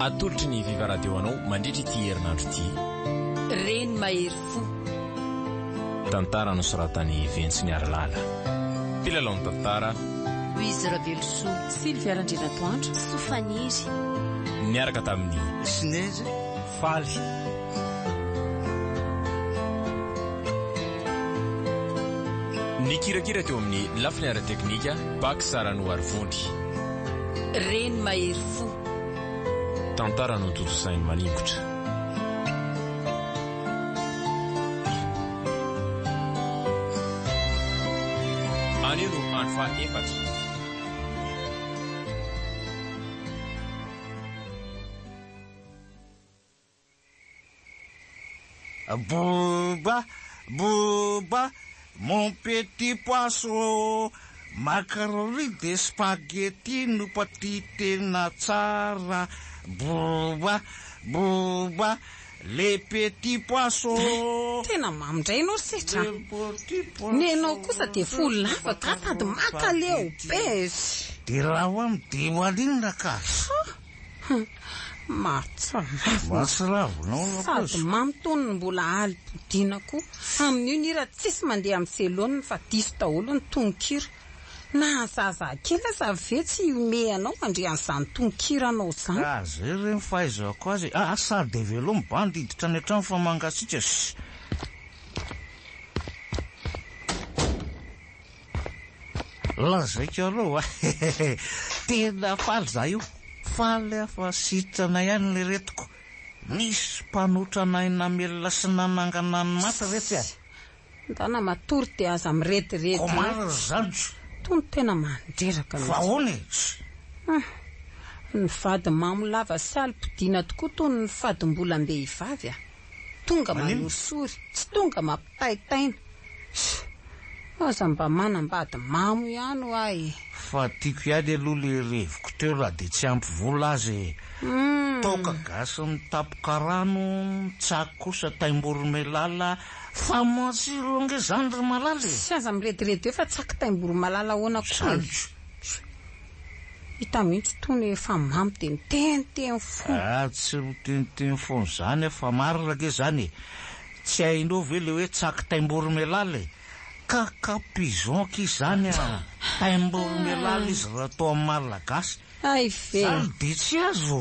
Atolotry ny Viva Radio anao mandritra ity herinandro ity. Reny mahery fo. Tantara nosoratan'i Ventsy Miarilala. Mpilalao ny tantara. Louise Ravelosoa. Sylvia Randrianatoandro. Soa Faniry. Niaraka tamin'i. Snez. Faly. Nikirakira teo amin'ny lafiny ara-teknika Bac Saranohary Vonjy. Reny mahery fo. Tantara notontosainy maningotra. Anio no andro faha efatra. Boba, boba, mon petit poisson, macaroni de spaghetti no paty tena tsara, boba, boba, le petit poisson. Tena mamy ndray ianao ry Setra a! Ny anao kosa dia fo lava ka tady maka leo! Bezy! Dia raha ho am dia ho alinona ka! Mahatsiravina. Sady mamy tony ny mbola aly bodiana ko. Amin'io ny hira tsisy mandeha amin'ny selonina fa diso daholo ny tononkira. Na zazaa kely aza ve tsy hihomehy anao handre an'izany tononkira anao zany. Ka zay re ny fahaizako azy e. Aa sady dia velao ny bandy hiditra any an-trano fa mangasitraka. Lazaiko aloha fa tena faly izaho io. Faly aho fa sitrana ihany ilay retiko. Nisy mpanotra anay namelona sy nanangana ny maty ve tsy hay? Ndana matory dia aza mirediredy eo. Comment ry zandriko? Toa ny tena mandreraka mihitsy. Fa ahoana e? Hum. Ny vady mamo lava sy alim-podiana tokoa toa ny fadim-bolam-behivavy a! Tonga manorisory, tsy tonga mampitaitaina. Ssss. Aza mba manambady mamo ihany hoa e. Fa tiako ihany aloha le reviko teo raha dia tsy ampy vola aza e. Toaka gasy mitapy karano, tsaky kosa taim-boromailala, fa matsiro ange zany ry malala e. Tsy aza mirediredy eo fa tsaky taim-boromalala ahoana koa e. Zany. Hita mihitsy itony hoe efa mamy dia miteniteny fona. Ah tsy miteniteny fona zany ah fa marina ge zany e! tsy hainao ve le hoe tsaky taimborimelaly e! ka ka pigeon ki zany ah! taimborimelaly izy raha atao amin'ny malagasy! hay ve! zany dia tsy azo!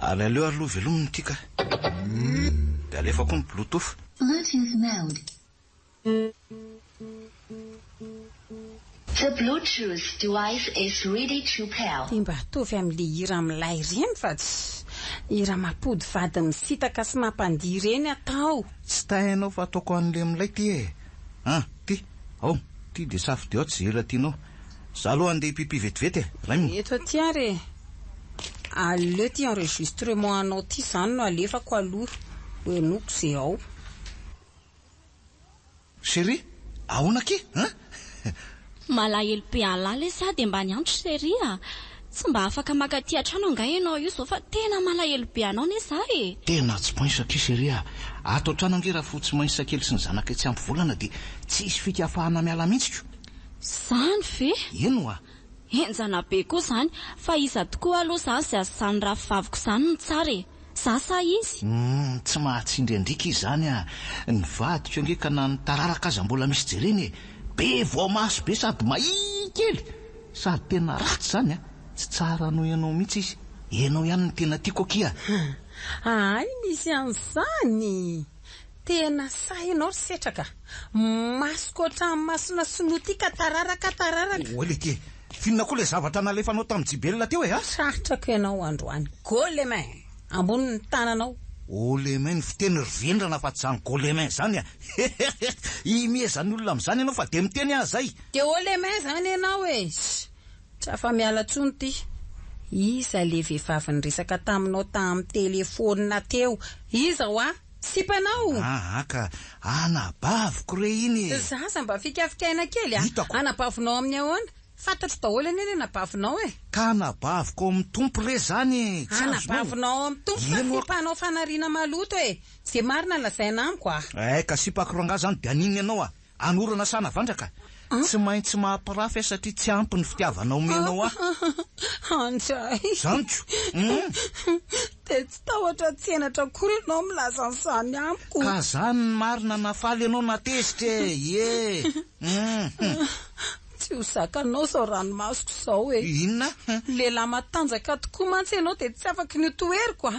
Ary aleo ary aloha velomina ity kah. Dia alefa koa ny bluetooth. Bluetooth mode. The bluetooth device is ready to pair. Dia mba ataovy amin'ilay hira milay ireny fa tsy hira mampody vady misitaka sy mampandihy ireny atao. Tsy tay ianao fa ataoko an'ilay milay ity e! An! ity! Ao! ity dia safidy ao tsy ze hira tianao. Za aloha andeha hipipi vetivety e! Raim. Eto aty ary e! Aleo ty enregistrement anao ty zany no alefako aloha ho henoiko ze ao. Cherie, ahoana akia an? Malahelo be alah leh za de mba niantso cherie a! Tsy mba afaka maka aty an-trano angaha ianao io zao fa tena malahelo be anao ne za e! Tena tsy poinsa akia cherie a! Ato an-trano ange raha fotsy mainsa kely sy ny zanakay tsy ampy volana de tsisy fika afahana miala mintsy ko! Zany ve? Eny wa! Henjana be koa zany, fa iza tokoa aloha zany zay asizany rahavaviko zany no tsara e! Za sa izy? Humm tsy mahatsindry andrika izy zany a! Ny vadiko ange ka na ny tararaka aza mbola misy jereny e! Be vao maso be sady mahia kely! Sady tena ratsy zany a! Tsy tsara noho ianao mihitsy izy! Ianao ihany no tena tiako akia! Ahay misy an'izany! Tena sahy ianao ry setraka. Masoko ohatran'ny masona sinoa ity ka tararaka tararaka. Oa lety e! Finona koa ilay zavatra nalefanao tamin'i Jibelina teo e ha! Tratrako ianao androany. Golemin! Ambonin'ny tananao. Golemin ny fiteny ry vendrana fa tsy izany golemin izany a! Heheheh! Hihimieza ny olona amin'izany ianao fa dia miteny aza ay! Dia holemin izany ianao e! Ssy! Tsy afa-miala intsony ity. Iza ilay vehivavy niresaka taminao tamin'ny telefaonina teo? Iza hoa? sipanao. Aa ka, anabaviko re iny e! Za aza mba fikafikaina kely a! Hitako. Anabavinao amin'ny ahoana? Fantatro daholo anie ny anabavinao e! Ka anabaviko ao amin'ny Tompo re zany e! Tsy azonao? Anabavinao ao amin'ny Tompo fa Eno ako. sipanao fanariana maloto e! Ze marina lazaina amiko a! Ay ka sipako rangahy zany de an'inona ianao a! Anorana sa Navandraka? Tsy maintsy maha-pirafy ahy satria tsy ampy ny fitiavana omenao ahy. Andray. Zaniko. Hum. Dia tsy tahotra tsy henatra akory ianao milaza an'izany amiko. Ka izany ny marina na faly ianao na tezitra e! Ie! Hum. Tsy ho zakanao izao ranomasoko izao e! Inona? Lehilahy matanjaka tokoa mantsy ianao dia tsy afaka ny ho toheriko a!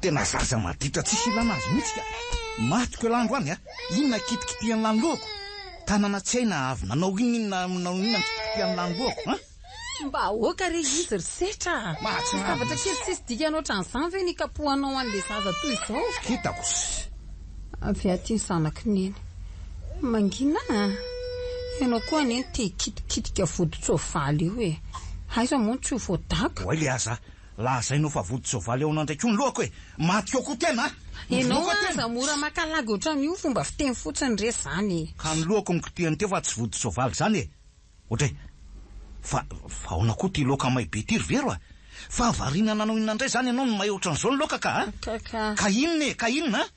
Tena zaza maditra tsisy ilana azy mihitsy ka! Maty ko elandro any a! Inona kitikitihan'ny lanilohako? Tanana tsy hay na avy nanao inona inona nanao inona ny kitikitihan'ny lanilohako an! Mba aoka re izy ry setra a! Mahatsiravina. Zavatra kely tsisy dikany ohatran'izany ve ny hikapohanao an'ilay zaza toy izao? Hitako sy. Avy aty ny zanaky neny. Mangina a! Ianao koa anie no te-hikitikitika vodin-tsoavaly eo e! Aiza moa ny tsy ho voadaka? Oay le aza a! Lazainao fa vodi-tsoavaly ao nandray koa ny lohako e! Maty ao koa tena a! Ianao aza mora maka lagy ohatran'io fomba fiteny fotsiny re zany e! Ka ny lohako no kitihany teo fa tsy vodi-tsoavaly zany e! Ohatray! Fa fa aona koa ty laoka may be ty ry vero a! Fahavariana nanao inona ndray zany ianao no may ohatran'izao ny laoka ka a! Ka inona e! Ka inona a!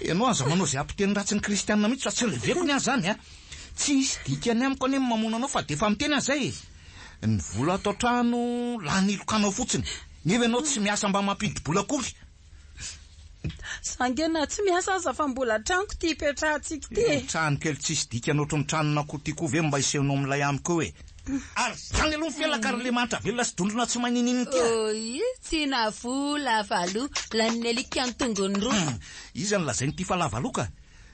Ianao aza manao izay hampiteny ratsy ny kristianina mihitsy fa tsy reveko ny ahy izany a! Tsy hisy dikany amiko anie ny mamono anao fa dia efa miteny aho izay e! Ny vola ato an-trano lany hilokanao fotsiny nefa ianao tsy miasa mba mampidi-bola akory! Za ange na tsy miasa aza fa mbola tranoko ity ipetrahantsika ity e! Io trano kely tsisy dikany ohatry ny tranon'akoho ity koa ve mba hisehonao milay amiko eo e! Ary izany aloha ny fianakaran'Andriamanitra velona sy dondrona tsy maninino ity a! Oy! Tsy na fo lavaloha, lanin'ny alika an-tongony roa. Iza no lazainy ity fa lavaloha ka?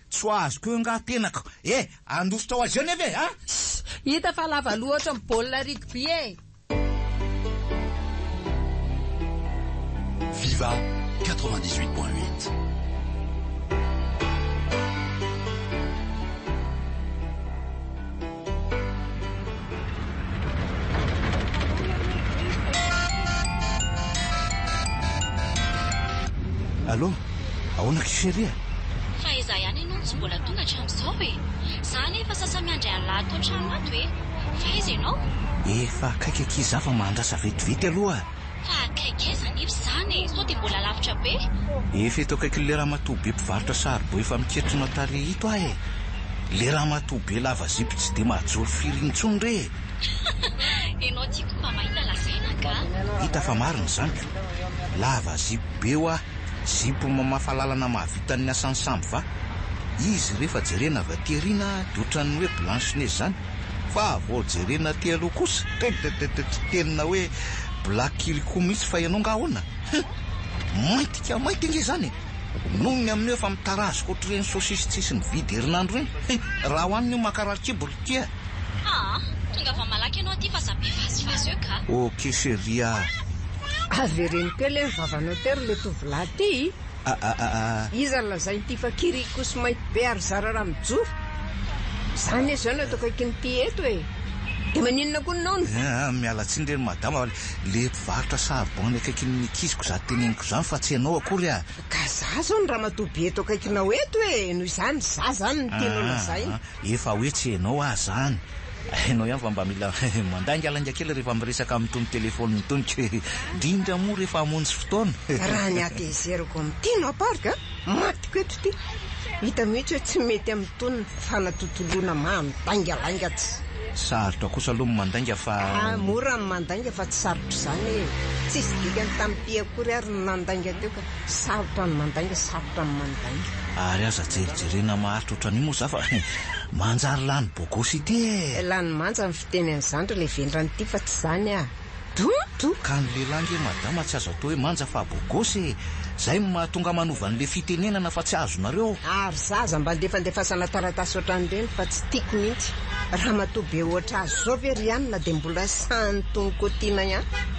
Tsy ho azoko eo angaha tenako e! Handositra ho azy eo nefa e! A! Shh! Hita fa lavaloha ohatran'ny baolina rugby e! Viva 98 point 8. Allo, ahoana ky chérie a? Fa izaho ihany ianao no tsy mbola tonga hatramin'izao e! Izaho anie efa sasa miandry an'lah ato an-trano ato e! Fa aiza ianao? Efa akaiky akia izaho fa mahandrasa vetivety aloha. Fa akaiky aiza anefa izany e! Sao dia mbola lavitra be? Efa eto akaikin'ilay ramatoa be mpivarotra saribao efa miketrona tarehy ito aho e! Ilay ramatoa be lava zipo tsy dia mahajoro firy intsony re e! Ianao ity koa mba mahita lazaina angaha? Hita fa marina izany ka! Lava zipo be hoa! Zipo mamafa lalana mahavita ny asan'ny sambo va? Izy rehefa jerena avy aty aoriana dia ohatran'ny hoe blanche neige izany. Fa vao jerena aty aloha kosa tretretretrett tena hoe black kely koa mihitsy fa ianao nga ahoana? Hum! Mainty ka mainty ange izany e! Noho ny amin'io efa mitarazoka ohatr'ireny sosisy tsisy mividy herinandro ireny. He! Raha ho an'ny mankarary kibo ry tia a! Aa! Tongava malaky ianao aty fa za be vazivazy eo ka! Ok chérie a! Avereno kely e ny vavanao tery le tovolahy ty! Aaaaa. Iza no lazain'ity fa kiriakosy mainty be ary zara raha mijoro? Za anie zao no eto akaikin'ity eto e! De maninona koa ny naona? Aa miala tsiny re ry madama fa le mpivarotra charbon any akaikin'ny ankiziko za teneniko izany fa tsy ianao akory aa. Ka za zao no ramatoa be eto akaikinao eto e! Noho izany za zany no tianao lazaina. Efa hoe tsy enao ah zany. Enao ihany fa mba mila mandaingalainga kely rehefa miresaka amin'itony telephone itony kky drindra moa rehefa hamonjy fotoana. Raha ny hatezerako amin'ity Napark a! matiko eto ity! hita mihitsy hoe tsy mety amin'itony fanatontoloana mandaingalainga tsy. Sarotra kosa aloha ny mandainga fa. Ah mora ny mandainga fa tsy sarotra izany e! tsisy dikany tamim-py akory ary ny nandainga teo ka. Sarotra ny mandainga, sarotra ny mandainga. Ary aza jerijerena maharitra ohatran'io moa za fa manjary lany bogosy ity e! Lany manja ny fiteny an'izany ry le vendrana ity fa tsy izany ah! Dodo! Ka ny lehilahy nge madama tsy azo atao hoe manja fa bogosy e! Zay no mahatonga manova an'le fitenenana fa tsy azonareo! Ary za aza mba andefandefasana taratasy ohatran'ireny fa tsy tiako mihitsy! Ramatoa be ohatr'azy zao ve ry an na dia mbola sahan'ny tonok'otiana ihany?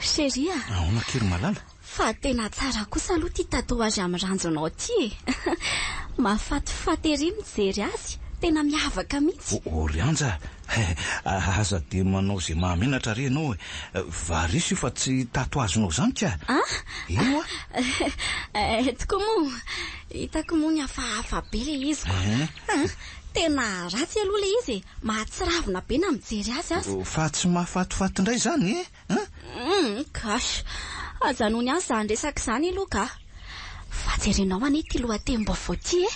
Chérie a! Ahoana kely malala? Fa tena tsara kosa aloha ity tatouage amin'ny ranjonao ity e! Mahafatifaty ery ny mijery azy, tena miavaka mihitsy! Orianja a! Aza dia manao izay mahamenatra re ianao e! Varice io fa tsy tatouage-nao izany ka! An? Eny hoa! Eh, tokoa moa! Hitako moa ny hafahafa be ilay izy ko! Tena ratsy aloha ilay izy e! Mahatsiravina be na mijery azy aza. Fa tsy mahafatifaty indray izany e! Humm gosh! Ajanony ihany izany resaka izany aloha kah! Fa jerenao anie ity lohatenim-baovao ity e!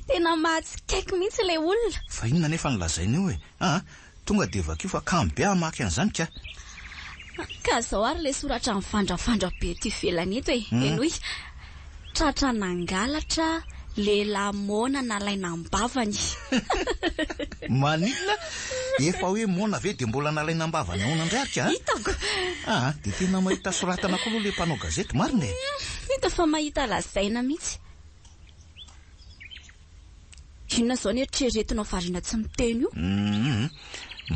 Tena mahatsikaiky mihitsy ilay olona! Fa inona anefa no lazainy eo e? Aa! Tonga dia vakio fa kamo be hamaky an'izany ka! Ka izao ary ilay soratra mivandravandra be eto ivelany eto e! Henoy, Tratra nangalatra, lehilahy moana nalaina am-bavany. Maninona? Efa hoe moana ve dia mbola nalaina am-bavany ahoana indray ary ka? Hitako! Aa, dia tena mahita soratana koa aloha ilay mpanao gazety marina e! Hita fa mahita lazaina mihitsy. Inona izao ny eritreretinao variana tsy miteny io? Hum,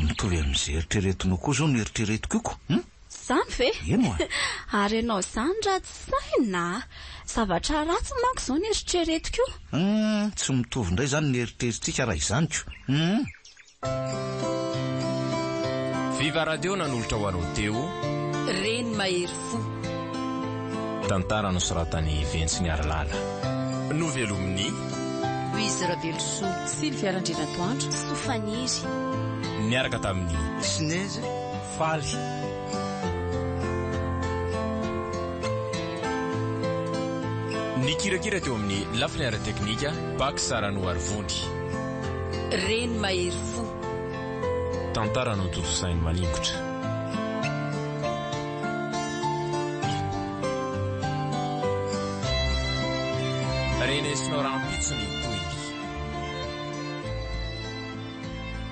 mitovy amin'izay eritreretinao koa izao no eritreretiko io ko! Hum? Izany ve? Eny oa! Ary ianao izany ratsy saina a! Zavatra ratsy manko izao no eritreretiko io! Hum, tsy mitovy indray izany ny eritreritsika raha izany ko! Hum! Viva Radio nanolotra ho anao teo. Reny mahery fo. Tantara nosoratan'i Ventsy Niarilala. Novelomin'i. Louise Ravelosoa. Sylvia Randrianatoandro. Soa Faniry. Niaraka tamin'i. Snez. Faly. Nikirakira teo amin'ny lafiny ara-teknika Pax Saranoarivony. Reny mahery fo. Tantara notontosain'i Maningotra. Renesinao rahampitso ny tohiny.